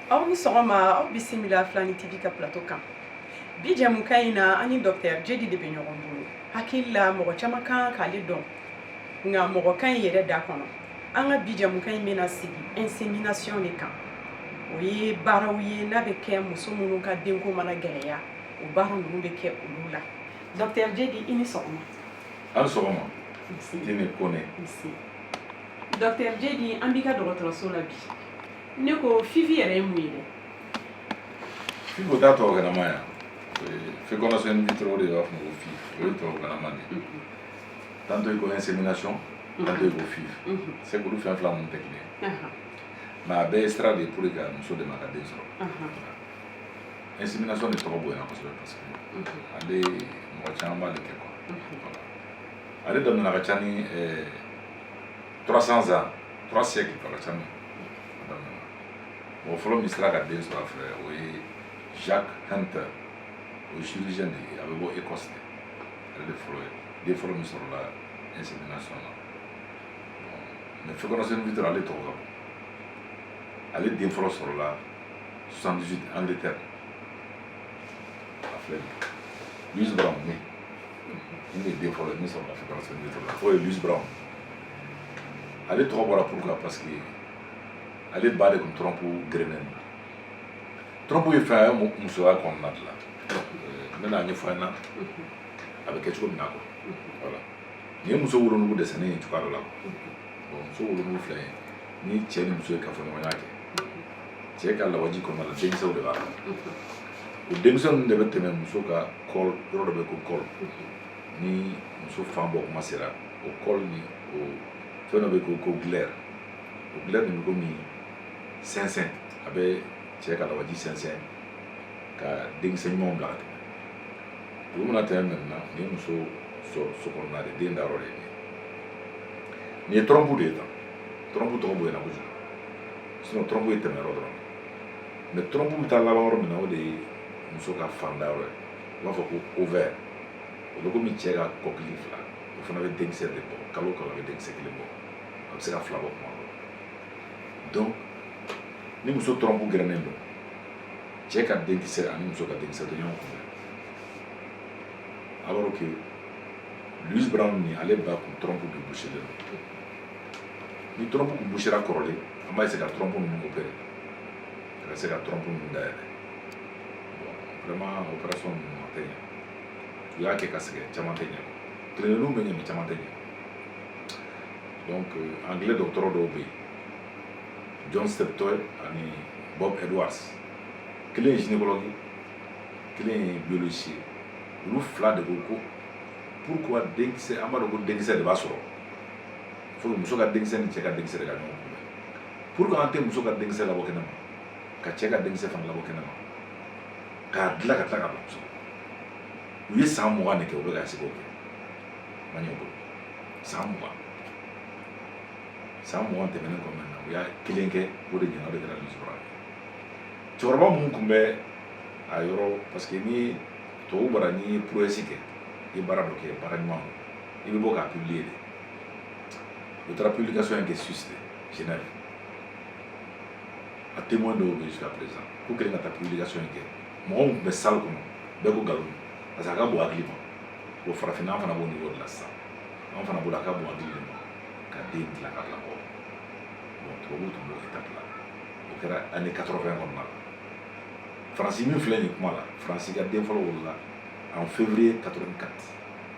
aw ni sɔgɔma aw bisimila filani tv ka plateau kan bi jɛmukan in na an ni dɔktɛr jedi de bɛ ɲɔgɔn bolo hakili la mɔgɔ caman kan k'ale dɔn nka mɔgɔ ka di i yɛrɛ da kɔnɔ an ka bi jɛmukan in bɛna sigi insemination de kan o ye baaraw ye n'a bɛ kɛ muso minnu ka denko mana gɛlɛya o baara ninnu bɛ kɛ olu la dɔktɛr jedi i ni sɔgɔma an sɔgɔma ne kɔnɛ dɔktɛr jedi an b'i ka dɔgɔtɔrɔso la bi ne ko FIV yɛrɛ ye mun ye dɛ FIV o ta tɔgɔ kɛnɛma yan fécondation in vitro de b'a fɔ ko FIV o ye tɔgɔ kɛnɛma de tantôt i ko insémination tantôt i ko FIV c'est que olu fɛn fila ninnu tɛ kelen mais a bɛɛ ye sira de ye pour que ka muso dɛmɛ ka den sɔrɔ insemination de tɔgɔ bonyana kosɛbɛ parce que ale mɔgɔ caman b'ale kɛ quoi voilà ale daminɛna ka ca ni 300 ans 3 siècles ka ca min a daminɛna mɔgɔ fɔlɔ min sera ka den sɔrɔ a fɛ o ye Jacques Hunter o ye chirurgien de ye a bɛ bɔ Écosse de ale de fɔlɔ ye den fɔlɔ min sɔrɔla insemination na mais fécondation in vitro ale tɔgɔ ka bon ale den fɔlɔ sɔrɔla 78 Angleterre. A filɛ Louise Brown min nin de den fɔlɔ ye min sɔrɔla fécondation nin la o ye Louise Brown ale tɔgɔ bɔra pourquoi parce que ale ba de tun trompe gerennen don trompe ye fɛn a ye musoya kɔnɔna de la n bɛna a ɲɛfɔ a ɲɛna a bɛ kɛ cogo min na quoi voilà nin ye muso wolonugu dessinélen ye cogoya dɔ la quoi muso wolonugu filɛ nin ye ni cɛ ni muso ye kafoɲɔgɔnya kɛ cɛ ka lawaji kɔnɔna la denkisɛw de b'a kɔnɔ o denkisɛ ninnu de bɛ tɛmɛ muso ka col yɔrɔ dɔ bɛ ko col ni muso fan bɔ kuma sera o col nin o fɛn dɔ bɛ ko ko glaire o glaire nin bɛ komi sɛnsɛn a bɛ cɛ ka lawaji sɛnsɛn ka denkisɛ ɲumanw bila ka tɛmɛ olu mana tɛmɛ maintenant nin ye muso so kɔnɔna de den da yɔrɔ de ye nin ye trompe de ye tan trompe tɔgɔ bonyana kojugu sinon trompe ye tɛmɛ yɔrɔ dɔrɔn mais trompe bɛ taa laban yɔrɔ min na o de ye muso ka fan da yɔrɔ ye u b'a fɔ ko ovaire o bɛ komi cɛ ka kɔkili fila o fana bɛ denkisɛ de bɔ kalo kalo a bɛ denkisɛ kelen bɔ a bɛ se ka fila bɔ kuma dɔ donc ni muso trompe gerennen don cɛ ka denkisɛ ani muso ka denkisɛ tɛ ɲɔgɔn kunbɛn alors que Louise Brown nin ale ba kun trompe de bouchelen don ni trɔmpu tun busera kɔrɔlen an bɛ se ka trɔmpu ninnu opere ka se ka trɔmpu ninnu dayɛlɛ vraiment opération ninnu a tɛ ɲɛ u y'a kɛ ka sɛgɛn caman tɛ ɲɛ kelenninw bɛ ɲɛ mɛ caman tɛ ɲɛ donc anglais dɔgɔtɔrɔ dɔw bɛ yen john steptoe ani bob edwards kelen ye gynécologue ye kelen ye biologiste ye olu fila de ko ko pourquoi denkisɛ an b'a dɔn ko denkisɛ de b'a sɔrɔ fɔlɔ muso ka denkisɛ ni cɛ ka denkisɛ de ka ɲɔgɔn kunbɛn pourquoi an tɛ muso ka denkisɛ labɔ kɛnɛ ma ka cɛ ka denkisɛ fana labɔ kɛnɛ ma k'a dilan ka tila ka bila muso u ye san mugan de kɛ u bɛ ka sigi o kɛ ma ɲɛ bolo san mugan san mugan tɛmɛnen kɔnɔna na u y'a kelen kɛ o de ɲɛna o de kɛra nisɔrɔ ye cɛkɔrɔba minnu tun bɛ a yɔrɔ parce que ni tubabu bara n'i ye prouesse kɛ i ye baara dɔ kɛ baara ɲuman don i bɛ bɔ k'a publier de u taara publication in kɛ Suisse de Genève a témoin dɔw bɛ jusqu'à présent k'u kɛlen ka taa publication in kɛ mɔgɔw tun bɛ salle kɔnɔ bɛɛ ko nkalon don parce que a ka bon hakili ma bon farafinna an fana b'o niveau de la sisan an fana bolo a ka bon hakili de ma ka den dilan ka bila mɔgɔ bon tubabuw tun b'o étape la o kɛra année 80 kɔnɔna la faransi min filɛ nin kuma la faransi ka den fɔlɔ wolola en février 84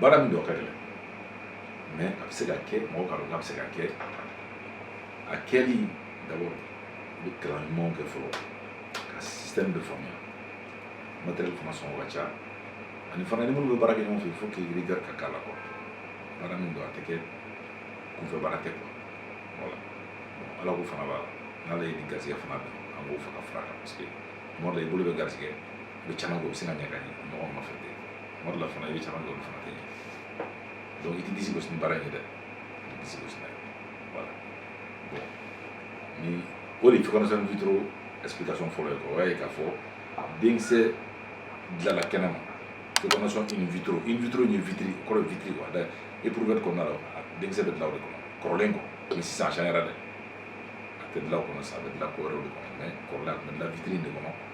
baara min don a ka gɛlɛn mɛ a bɛ se ka kɛ mɔgɔ k'a dɔn k'a bɛ se ka kɛ a kɛli d'abord i bɛ kalan ɲumanw kɛ fɔlɔ ka système de faamuya matériel fana sɔngɔ ka ca ani fana ni minnu bɛ baara kɛ ɲɔgɔn fɛ faut que rigueur ka k'a la quoi baara min don a tɛ kɛ kunfɛ baara tɛ quoi voilà ala ko fana b'a la n'ala ye nin garisɛgɛ fana bɛn an b'o fana fara a kan parce que tuma dɔ la i bolo bɛ garisɛgɛ u bɛ caman kɛ u bɛ sin ka ɲɛ ka ɲɛ ɲɔgɔn nɔfɛ ten tuma dɔ la fana i bɛ caman kɛ olu fana tɛ ɲɛ donc i tɛ disi gosi ni baara in ye dɛ i tɛ disi gosi n'a ye voilà bon ni o de fécondation in vitro explication fɔlɔ ye quoi o y'a ye k'a fɔ denkisɛ dilanna kɛnɛma fécondation in vitro in vitro in ye vitiri kɔrɔ ye vitiri quoi dɛ éprouvette kɔnɔna la denkisɛ bɛ dilan o de kɔnɔ kɔrɔlen quoi mɛ sisan a changera dɛ a tɛ dilan o kɔnɔ sisan a bɛ dilan ko wɛrɛw de kɔnɔ mɛ kɔrɔlen a tun bɛ dilan vitiri in de kɔnɔ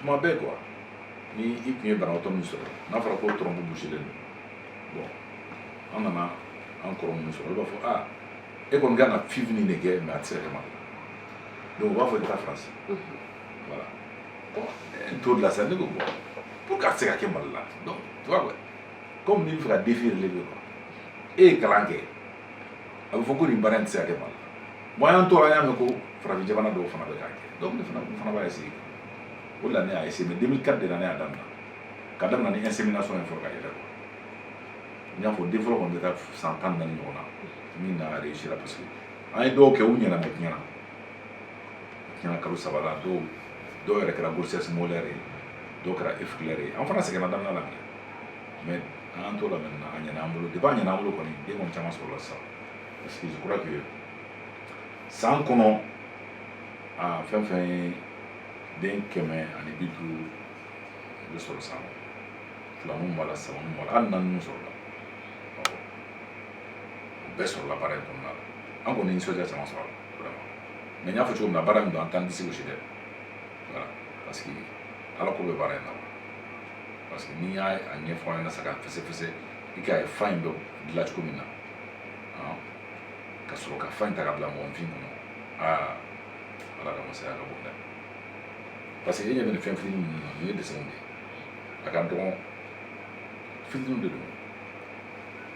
tuma bɛɛ quoi ni i tun ye banabaatɔ min sɔrɔ n'a fɔra ko trɔmpu buselen don bɔn an nana an kɔrɔ minnu sɔrɔ olu b'a fɔ a ah, e kɔni kan ka fiv nin de kɛ mɛ a tɛ se ka kɛ mali la donc u b'a fɔ i taa faransi voilà bɔn o de la sa ne ko bɔn pourquoi a tɛ se ka kɛ mali la donc tu vois quoi comme n'i bɛ fɛ ka défi relever quoi e ye kalan kɛ a bɛ fɔ ko nin baara in tɛ se ka kɛ mali la Maintenant an y'a mɛn ko farafin jamana dɔw fana bɛ k'a kɛ dɔw fana fana b'a essayer o de la ne y'a essayer mais 2004 de la ne y'a daminɛ ka daminɛ ni insémination ye fɔlɔ ka yɛlɛ quoi n y'a fɔ den fɔlɔ kɔni bɛ taa san tan ni naani ɲɔgɔn na min na a réussira parce que an ye dɔw kɛ u ɲɛna mais tiɲɛna tiɲɛna kalo saba la dɔw dɔw yɛrɛ kɛra grossesse molaire ye dɔw kɛra œuf clair ye an fana sɛgɛnna daminɛ la mais an y'an t'o la maintenant a ɲɛna an bolo depuis a ɲɛna an bolo kɔni den kɔni caman sɔrɔla sisan excuse kura k'i ye san kɔnɔ a fɛn fɛn ye den kɛmɛ ani bi duuru i bɛ sɔrɔ san filanin b'a la sabanin b'a la hali naaninin sɔrɔla awɔ o bɛɛ sɔrɔla baara in kɔnɔna la an kɔni nisɔndiya caman sɔrɔ a la vraiment mais n y'a fɔ cogo min na baara min don an t'an disi gosi dɛ voilà parce que ala ko bɛ baara in na parce que n'i y'a a ɲɛfɔ an ɲɛna sa k'a fɛsɛfɛsɛ i k'a ye fan in bɛ dilan cogo min na ka sɔrɔ ka fan in ta ka bila mɔgɔninfin kɔnɔ aa ala ka masaya ka bon dɛ parce que e ɲɛ bɛ nin fɛn fitinin ninnu na nin ye dessinw de ye a ka dɔgɔn fitiniw de don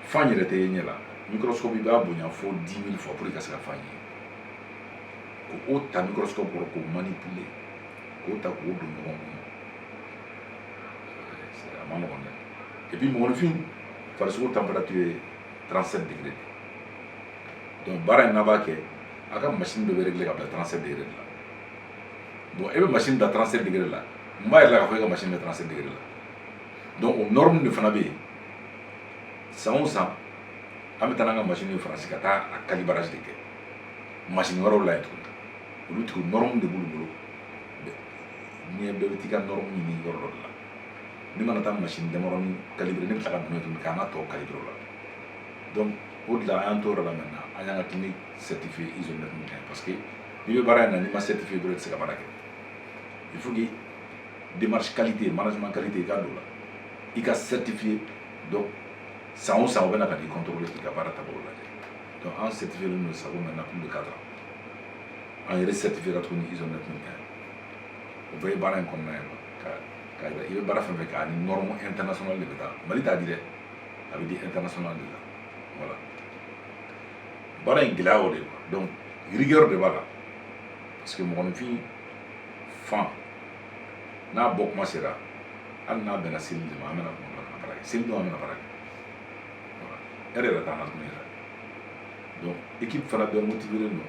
fan yɛrɛ tɛ ye ɲɛ la microscope i b'a bonya fo 10 000 fois pour i ka se ka fan ye k'o ta microscope kɔrɔ k'o manipuler k'o ta k'o don ɲɔgɔn kɔnɔ a ma nɔgɔn dɛ et puis mɔgɔninfin farisogo température ye 37 degré de donc baara in n'a b'a kɛ a ka machine de bɛ réglé ka bila 37 degré de la bon e bɛ machine da 37 degré de la mun b'a yira i la k'a fɔ e ka machine bɛ 37 degré de la donc o norme de fana bɛ yen san o san an bɛ taa n'an ka machine ye faransi ka taa a calibrage de kɛ machine wɛrɛw la yen tuguni olu tigiw norme de b'olu bolo n'i ye bɛɛ bɛ t'i ka norme ɲini yɔrɔ dɔ de la ne mana taa machine damaɔrɔn ni calibré ne bɛ taa dun tun k'an ka tɔ kali dɔrɔn la donc o de an tɔɔrɔ la min na an y'an ka ti ni certifié ISO la tuguni parce que n'i bɛ baara in na n'i ma certifié bolo tɛ se ka baara kɛ il faut que démarche qualité management qualité i ka don a la i ka certifié donc san o san o bɛna ka di kɔntɔ k'i ka baara taabolo la donc an certifié ninnu sago maintenant an bɛ ka taa an yɛrɛ certifié ka tuguni ISO la tuguni o bɛɛ ye baara in kɔnɔna ye ka ka i bɛ baara fɛn fɛn kɛ a ni norme internationale de bɛ taa mali t'a di dɛ a bɛ di international de la voilà baara in gɛlɛya o de quoi donc rigueur de b'a la parce que mɔgɔninfin fan n'a bɔ kuma sera hali n'a bɛnna seli de ma an bɛna kuma bana baara kɛ seli don an bɛna baara kɛ voilà e yɛrɛ t'an ka kuma yɛrɛ donc équipe fana bɛɛ motivélen don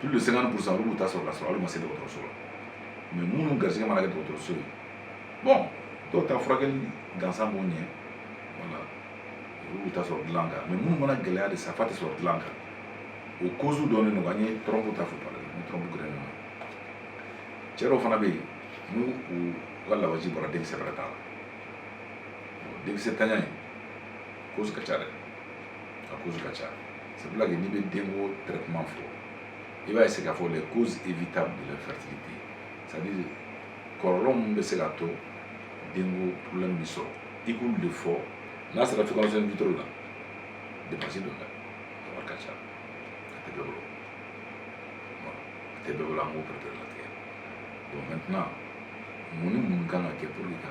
plus de cinquante pour cent olu ta sɔrɔ ka sɔrɔ olu ma se dɔgɔtɔrɔso la mɛ minnu garisɛgɛ mana kɛ dɔgɔtɔrɔso ye bɔn dɔw ta furakɛli gansan b'o ɲɛ wala olu ta sɔrɔ dilan kan mɛ minnu mana gɛlɛya de sa f'a tɛ sɔrɔ dilan kan o kozu dɔnnen don an ye tɔrɔmpu ta fɔ pale ni tɔrɔmpu gerennen don cɛ dɔw fana bɛ yen n'u u ka lawaji bɔra denkisɛ yɛrɛ t'a la denkisɛntanya in cause ka ca dɛ a cause ka ca c'est pour ça que n'i bɛ denko traitement fɔ i b'a essayer k'a fɔ les causes évitables de l'infertilité c'est à dire kɔlɔlɔ min bɛ se ka to denko problème bɛ sɔrɔ i b'olu de fɔ n'a sera fécondation in vitro la dépense b'o la wari ka ca a tɛ bɛɛ bolo a tɛ bɛɛ bolo an b'o pɛrɛpɛrɛlatigɛ bon maintenant mun ni mun kan ka kɛ pour que ka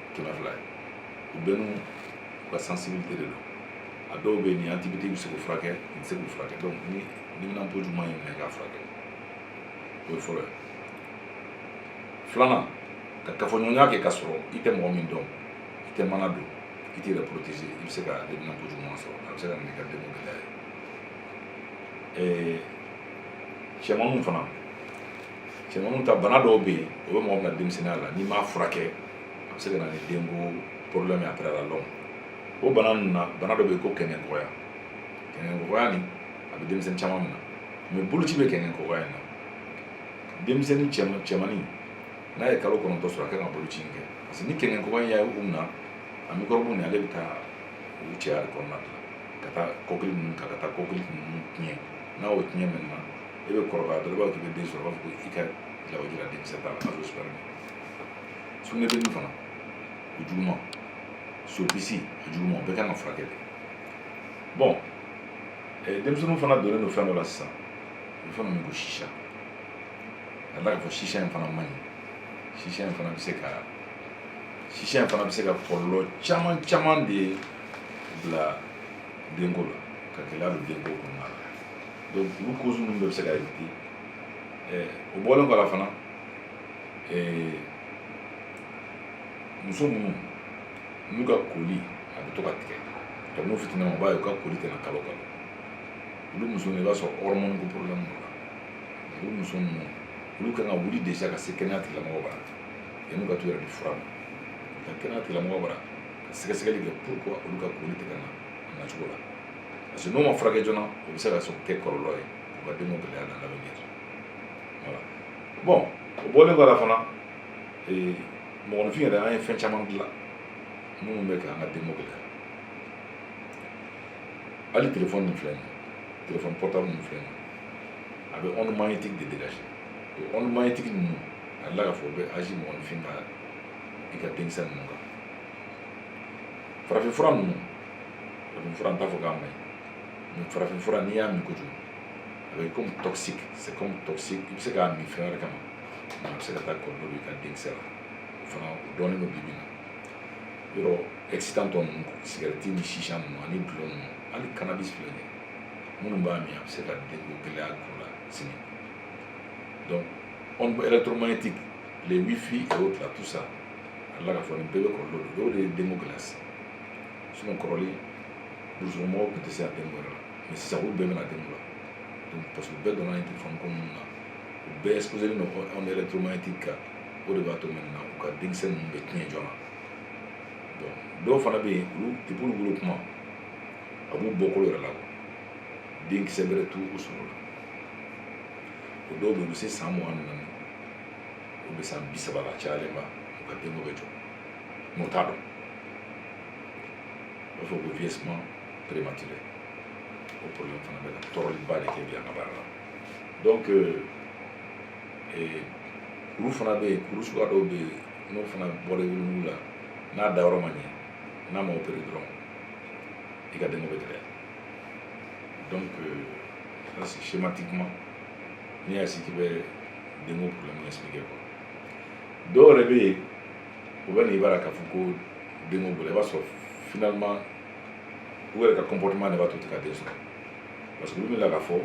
kɛmɛ fila ye u bɛɛ n'u ka sensibilité de don a dɔw bɛ yen nin antibiotique bɛ se k'u furakɛ nin tɛ se k'u furakɛ donc ni neminanpo juguman y'i minɛ k'a furakɛ o ye fɔlɔ ye filanan ka kafoɲɔgɔnya kɛ ka sɔrɔ i tɛ mɔgɔ min dɔn i tɛ mana don i t'i yɛrɛ protéger i bɛ se ka neminanpo juguman sɔrɔ a bɛ se ka na n'i ka denko gɛlɛya ye cɛmanninw fana cɛmanw ta bana dɔw bɛ yen o bɛ mɔgɔ minɛ denmisɛnninya la n'i m'a furakɛ a bɛ se ka na ni denko problème ye après la longue o bana ninnu na bana dɔ bɛ yen ko kɛnkɛnkɔkɔyɔ kɛnkɛnkɔkɔyɔ nin a bɛ denmisɛnnin caman minɛ mɛ boloci bɛ kɛnkɛnkɔkɔyɔ in na denmisɛnnin cɛman cɛmannin n'a ye kalo kɔnɔntɔn sɔrɔ a kan ka boloci in kɛ parce que ni kɛnkɛnkɔkɔyɔ in y'a ye u minɛ a mikɔrɔbu nin ale bɛ taa u cɛya de kɔnɔna de la ka taa kɔkili ninnu ka ka taa kɔkili ninnu tiɲɛ n'a y'o tiɲɛ maintenant e bɛ kɔrɔbaya dɔrɔn i b'a fɔ k'i bɛ den sɔrɔ u b'a fɔ ko i ka lawaji la denkisɛ t'a la a b'o sɔrɔ sugunɛbilenni fana o juguma sopisi o juguma o bɛɛ kan ka furakɛ de bɔn denmisɛnninw fana donnen don fɛn dɔ la sisan u bɛ fɛn dɔ min ko sisa ka tila k'a fɔ sisa in fana man ɲi sisa in fana bɛ se ka sisa in fana bɛ se ka kɔlɔlɔ caman caman de bila denko la ka gɛlɛya don denko kɔnɔna la donc olu cause ninnu bɛɛ bɛ se ka éviter ɛɛ o bɔlen kɔ la fana ɛɛ muso minnu n'u ka koli a bɛ to ka tigɛ kabini u fitininman u b'a ye u ka koli tɛ na kalo o kalo olu muso ninnu i b'a sɔrɔ hormone ko problème b'u la olu muso ninnu olu kan ka wuli déjà ka se kɛnɛya tigilamɔgɔw bara yanni u ka t'u yɛrɛ di fura ma ka kɛnɛya tigilamɔgɔw bara ka sɛgɛsɛgɛli kɛ pourquoi olu ka koli tɛ ka na a nacogo la parce que n'o ma furakɛ joona o bɛ se ka sɔn kɛ kɔlɔlɔ ye u ka denko gɛlɛya na lamɛn kɛ voilà bon o bɔlen kɔ la fana ee mɔgɔninfin yɛrɛ an ye fɛn caman dilan minnu bɛ k'an ka denko gɛlɛya hali telefɔni nin filɛ nin ye telefɔni pɔrtabulu nin filɛ nin ye a bɛ onde magnétique de dégager o onde magnétique ninnu a jirala k'a fɔ o bɛ agir mɔgɔninfin ka i ka denkisɛ ninnu kan farafinfura ninnu farafin fura n t'a fɔ k'a maɲi mais farafin fura n'i y'a min kojugu a bɛ comme toxique c'est comme toxique i bɛ se k'a min fɛn wɛrɛ kama mais a bɛ se ka taa kɔlɔlɔ don i ka denkisɛ la o fana o dɔnnen don bi bi in na yɔrɔ excitant tɔ ninnu sigɛrɛti ni chicha ninnu ani dulɔ ninnu hali cannabis filɛ nin ye minnu b'a min a bɛ se ka denko gɛlɛya k'u la sini donc onde électromagnétique les wifi et autres là tout ça a la k'a fɔ nin bɛɛ bɛ kɔlɔlɔ don dɔw de ye denko gɛlɛya sigi sinon kɔrɔlen burusukɔnɔmɔgɔw tun tɛ se ka kɛ mɔgɔ la mais sisan olu bɛɛ bɛna kɛ mɔgɔ la parce que u bɛɛ donna nin telefɔni ko ninnu na u bɛɛ exposé len don onde électromagnétique kan o de b'a to maintenant u ka denkisɛ ninnu bɛ tiɲɛ joona bon dɔw fana bɛ yen olu depuis olu wolo kuma a b'u bɔkolo yɛrɛ la denkisɛ bɛrɛ t'u u sɔrɔ la o dɔw bɛ yen u bɛ se san mugan ni naani u bɛ san bi saba la cayalenba u ka denko bɛ jɔ mais o t'a dɔn u b'a fɔ ko vieillissement prématuré o problème fana bɛ an tɔɔrɔliba de kɛ bi an ka baara la donc euh, eh, kuru fana bɛ yen kuru suguya dɔw bɛ yen n'o fana bɔra i wolonugu la n'a dayɔrɔ ma ɲɛ n'a ma opere dɔrɔn i ka denko bɛ gɛlɛya donc euh, ça schématiquement n'i y'a si k'i bɛ denko problème expliquer quoi dɔw yɛrɛ bɛ yen u bɛ n'i bara k'a fɔ ko denko b'u la i b'a sɔrɔ finalement u yɛrɛ ka comportement de b'a to u tɛ ka den sɔrɔ parce que olu bɛ la k'a fɔ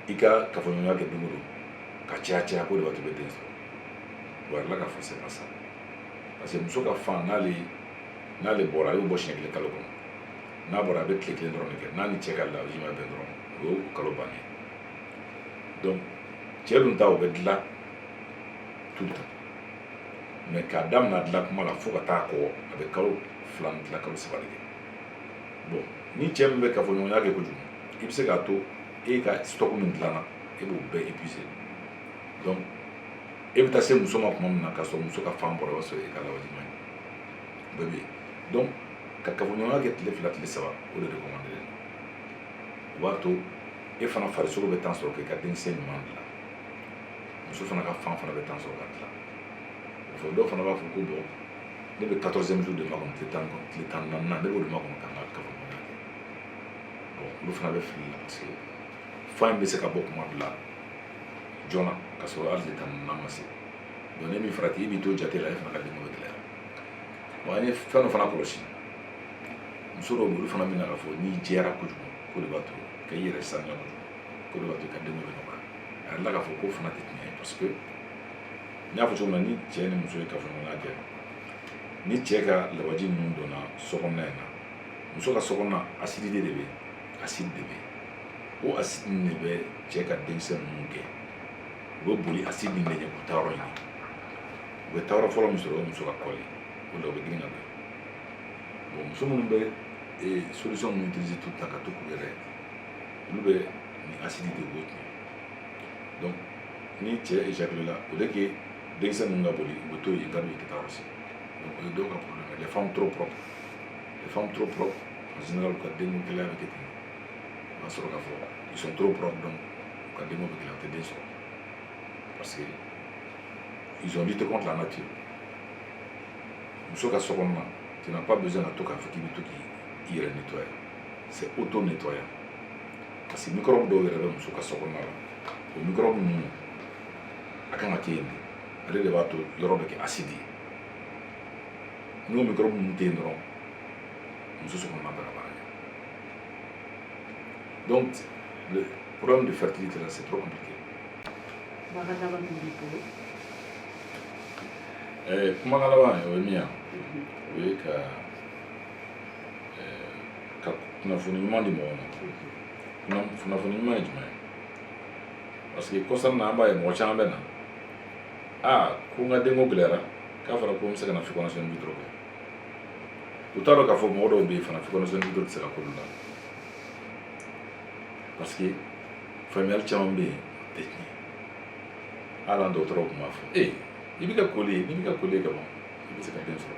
i ka kafoɲɔgɔnya kɛ don o don ka caya caya k'o de b'a to i bɛ den sɔrɔ wa a jirala k'a fɔ c'est pas ça parce que muso ka fan n'ale n'ale bɔra a y'o bɔ siɲɛ kelen kalo kɔnɔ n'a bɔra a bɛ tile kelen dɔrɔn de kɛ n'a ni cɛ ka lawaji ma bɛn dɔrɔn o y'o kalo bannen donc cɛ dun ta o bɛ dilan tout temps mais k'a damina dilan kuma la fo ka taa kɔgɔ a bɛ kalo fila ni tila kalo saba de kɛ bon ni cɛ min bɛ kafoɲɔgɔnya kɛ kojugu i bɛ se k'a to e ka stock min dilanna e b'o bɛɛ épuisé donc e bɛ taa se muso ma kuma min na k'a sɔrɔ muso ka fan bɔra o b'a sɔrɔ e ka lawaji man ɲi bɛɛ bɛ yen donc ka kafoɲɔgɔnya kɛ tile fila tile saba o de recommandé o b'a to e fana farisogo bɛ temps sɔrɔ k'i ka denkisɛ ɲuman dilan muso fana ka fan fana bɛ temps sɔrɔ ka tila o fɔ dɔw fana b'a fɔ ko bon ne bɛ quatorzième jour de makɔnɔ tile tan tile tan ni naaninan ne b'o de makɔnɔ ka n ka kafoɲɔgɔnya kɛ bon olu fana bɛ fili la parce que fan in bɛ se ka bɔ kuma bila joona ka sɔrɔ hali tile tan ni naaninan ma se donc n'i m'i farati i b'i to jate la e fana ka denko bɛ gɛlɛya bon an ye fɛn dɔ fana kɔlɔsi muso dɔw bɛ olu fana bɛ na k'a fɔ n'i jɛra kojugu k'o de b'a to k'i yɛrɛ saniya kojugu k'o de b'a to i ka den bɛ nɔgɔya a yɛrɛ la k'a fɔ k'o fana tɛ tiɲɛ ye parce que n y'a fɔ cogo min na ni cɛ ni muso ye kafoɲɔgɔnya kɛ ni cɛ ka lawaji ninnu donna sokɔnɔna in na muso ka sokɔnɔna asidi de bɛ yen asidi de bɛ yen o asidi nin de bɛ cɛ ka denkisɛ ninnu gɛn u bɛ boli asidi nin de ɲɛ k'u taayɔrɔ ɲini u bɛ taa yɔrɔ fɔlɔ min sɔrɔ o ye muso ka kɔli o la u bɛ girin ka bɛn bon muso minnu bɛ solution ninnu utiliser tout le temps ka to k'u yɛrɛ olu bɛ nin asidi de b'o tiɲɛ donc ni cɛ éjaculé la au lieu que denkisɛ ninnu ka boli u bɛ to yen ka don ka taa yɔrɔ si donc o ye dɔw ka problème ye les femmes trop propres les femmes trop propres en général u ka denko gɛlɛya bɛ kɛ ten o b'a sɔrɔ k'a fɔ ils sont trop propres donc u ka denko bɛ gɛlɛya u tɛ den sɔrɔ parce que ils ont lutté contre la nature muso ka sokɔnɔna tu n'as pas besoin ka to k'a fɔ k'i bɛ to k'i yɛrɛ nettoyer c'est autonettoyant parce que microbe dɔw yɛrɛ bɛ muso ka sokɔnɔna la o microbe ninnu a kan ka kɛ yen de ale de b'a to yɔrɔ bɛ kɛ asidi ye n'o microbe ninnu tɛ yen dɔrɔn muso sokɔnɔna tɛna baara kɛ donc le problème de fertilité là c'est trop compliqué. Kumakan laban min b'i bolo. Ɛɛ kumakan laban o ye min ye o ye ka ka kunnafoni ɲuman di mɔgɔw ma kunnafoni ɲuman ye jumɛn ye parce que kɔsa in na an b'a ye mɔgɔ caman bɛ na aa ko n ka denko gɛlɛyara k'a fɔra ko n bɛ se ka na fécondation in vitro kɛ u t'a dɔn k'a fɔ mɔgɔ dɔw bɛ yen fana fécondation in vitro tɛ se ka k'olu la parce que faamuyali caman bɛ yen o tɛ tiɲɛ hali an dɔgɔtɔrɔw tun b'a fɔ ee i bɛ ka koli ye n'i bɛ ka koli ye ka ban i bɛ se ka den sɔrɔ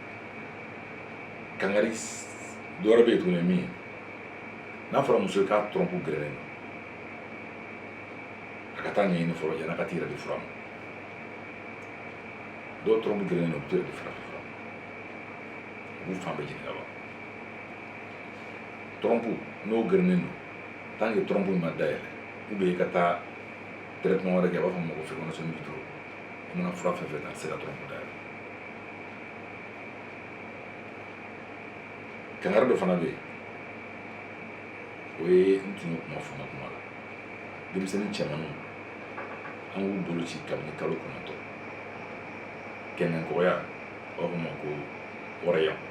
kangari dɔ wɛrɛ bɛ yen tuguni min ye n'a fɔra muso ye k'a trompe gerennen don a ka t'a ɲɛɲini fɔlɔ yann'a ka t'i yɛrɛ di fura ma dɔw trompe gerennen don u bɛ t'u yɛrɛ di fura ma u b'u fan bɛɛ jeni ka ban trompe n'o gerennen don tant que trompe in ma dayɛlɛ ou bien i ka taa traitement wɛrɛ kɛ a b'a fɔ ma ko fécondation in vitro como na própria verdadeira dela. kangari dɔ fana bɛ yen o ye n tun y'o kuma fɔ n ka kuma la denmisɛnnin cɛmanninw an k'u bolo ci kabini kalo kɔnɔntɔn kɛnkɛnkɔkɔyɔ u b'a fɔ o ma ko oreillons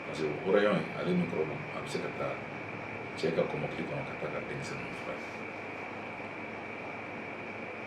parce que oreillons in ale ni kɔrɔbɔn a bɛ se ka taa cɛ ka kɔmɔkili kɔnɔ ka taa ka denmisɛnninw furakɛ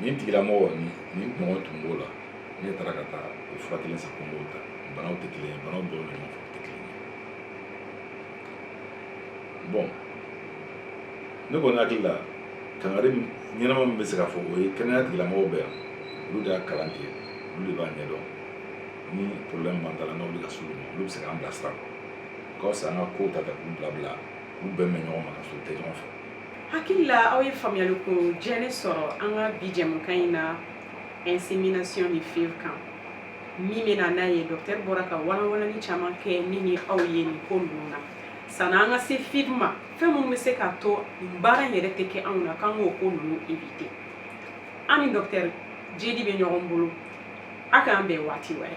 nin tigilamɔgɔ ni nin ɲɔgɔn tun b'o la ne taara ka taa o fura kelen san ko n b'o ta banaw tɛ kelen ye banaw dɔw bɛ ɲɔgɔn fɛ o tɛ kelen ye bon ne kɔni hakili la kangari ɲɛnama min bɛ se ka fɔ o ye kɛnɛya tigilamɔgɔw bɛ yan olu de y'a kalan kɛ olu de b'a ɲɛdɔn ni problème b'an ta la n'aw bɛ ka s'olu ma olu bɛ se k'an bilasira o ka fisa an ka kow ta ta k'u bila bila k'u bɛn bɛn ɲɔgɔn ma ka sɔrɔ u tɛ ɲɔgɔn fɛ hakili la aw ye faamuyali ko jɛni sɔrɔ an ka bi jɛmukan in na insémination ni FIV kan min bɛ na n'a ye docteur bɔra ka walawalali caman kɛ ne ni aw ye nin ko ninnu na sanni an ka se FIV ma fɛn minnu bɛ se k'a to nin baara in yɛrɛ tɛ kɛ anw na k'an k'o ko ninnu éviter an ni docteur Djédi bɛ ɲɔgɔn bolo a k'an bɛn waati wɛrɛ